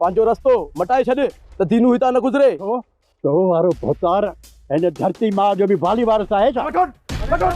پنهنجو رستو مٽائي ڇڏ ته دينو هتان نه گذري. ڇو؟ تو وارو ڀوتار هن ڌرتي ماء جو به والي وارث آهي ڇا؟ وٺ هوڏ! وٺ هوڏ!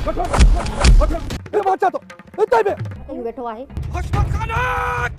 وٺ هوڏ! هي مان اچان ٿو، اتي بيهه! ڪيئن ويٺو آهي؟ حشمت خانان!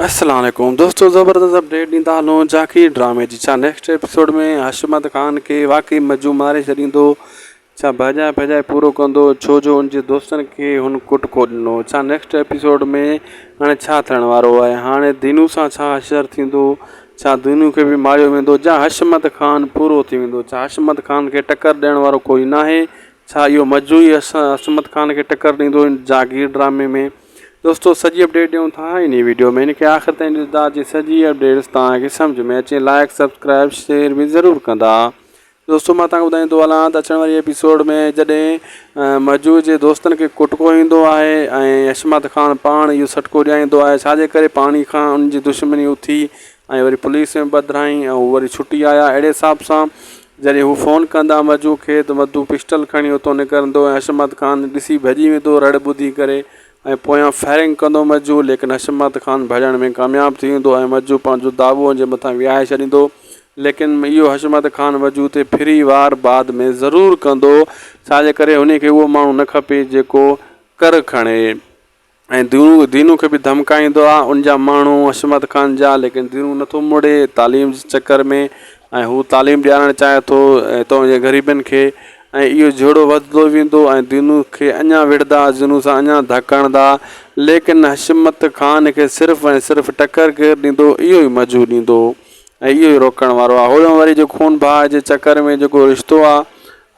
السلام عليڪم دوستو زبردست اپڊيٽ ڏيندا هلون جاکير ڊرامي جي ڇا نيڪسٽ ايپيسوڊ ۾ حشمت خان کي واقعي مجو ماري ڇڏيندو ڇا ڀاڄائي ڀاڄائي پورو ڪندو ڇو جو ان جي دوستن کي هن ڪٽ ڪو ڏنو ڇا نيڪسٽ ايپيسوڊ ۾ هاڻي ڇا ٿيڻ وارو آهي هاڻي دينو سان ڇا حشر ٿيندو ڇا دينو کي به ماريو ويندو جا حشمت خان پورو ٿي ويندو ڇا حشمت خان کي ٽڪر ڏيڻ وارو ڪوئي ناهي ڇا اهو مجو ئي حشمت خان کي ٽڪر ڏيندو هن جاگير ڊرامي ۾ دوستو سڄي اپڊيٽ ڏيون ٿا انهي ويڊيو ۾ هن کي آخر تائين ڏسدا جي سڄي اپڊيٽس توهان کي سمجهه ۾ اچي لائڪ سبسڪرائب شيئر به ضرور ڪندا دوستو مان توهان کي ٻڌائيندو هلان ته اچڻ واري ايپيسوڊ ۾ جڏهن مهجور جي دوستن کي ڪٽڪو ايندو آهي ۽ حشمت خان پاڻ اهو سٽڪو ڏياريندو آهي ڇا جي ڪري پاڻي کان ان جي دشمني اٿي ۽ وري پوليس ۾ پڌرائين ۽ هو وري ڇٽي آيا اهڙي حساب سان جڏهن هو فون ڪندا مهجور کي ته مدو پسٽل کڻي اتو نڪرندو ۽ حشمت خان ڏسي ڀڄي ويندو رڙ ٻڌي ڪري ۽ پويان فائرنگ ڪندو مهجور ليڪن حشمت خان ڀڄڻ ۾ ڪامياب ٿي ويندو ۽ مهجور پنهنجو داٻو ان جي مٿان وهائي ڇڏيندو ليڪن اهو حشمت خان وجود تي ڦري وار بعد ۾ ضرور ڪندو، ڇا جي ڪري هن کي اهو ماڻهو نه کپي جيڪو ڪر کڻي ۽ دينون دينون کي به ڌمڪائيندو آ، ان جا ماڻهو حشمت خان جا، ليڪن دينون نه ٿو مڙي تعليم جي چڪر ۾ ۽ هو تعليم ڏيارڻ چاهي ٿو تون جي غريبن کي ۽ اهو جهيڙو وڌندو ويندو ۽ دينون کي اڃا وڙهدا دينون سان اڃا ڌڪ هڻدا، ليڪن حشمت خان کي صرف ۽ صرف ٽڪر ڪير ڏيندو اهو ئي مجهو ڏيندو. ۽ اهو ئي روڪڻ وارو آ هوڏانهن وري جو خون ڀاء جي چڪر ۾ جيڪو رشتو آ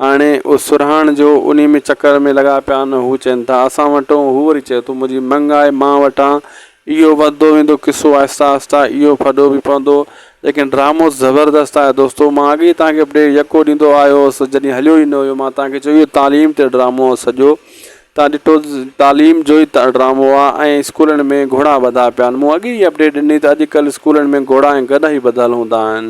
هاڻي او سرهاڻ جو انهي ۾ چڪر ۾ لڳا پيا آهن هو چين ٿا اسان وٽون هو وري چئي ٿو منهنجي منڱ آهي مان وٽان اهو وڌدو ويندو قصو آهسته آهسته اهو ڦڏو به پوندو ليڪن ڊرامو زبردست آهي دوستو مان اڳي ئي توهان کي اپڊيٽ يڪو ڏيندو آيو هوس جڏهن هليو ئي نه هيو مان توهان کي چيو اهو تعليم تي ڊرامو آ سڄو تان ڏٺو تعليم جوئي ڊرامو آ ۽ اسڪولن ۾ گهوڙا ٻڌا پيا آهن مون اڳي ئي اپڊيٽ ڏني ته اڄڪلهه اسڪولن ۾ گهوڙا ۽ گڏهه ئي ٻڌل هوندا آهن.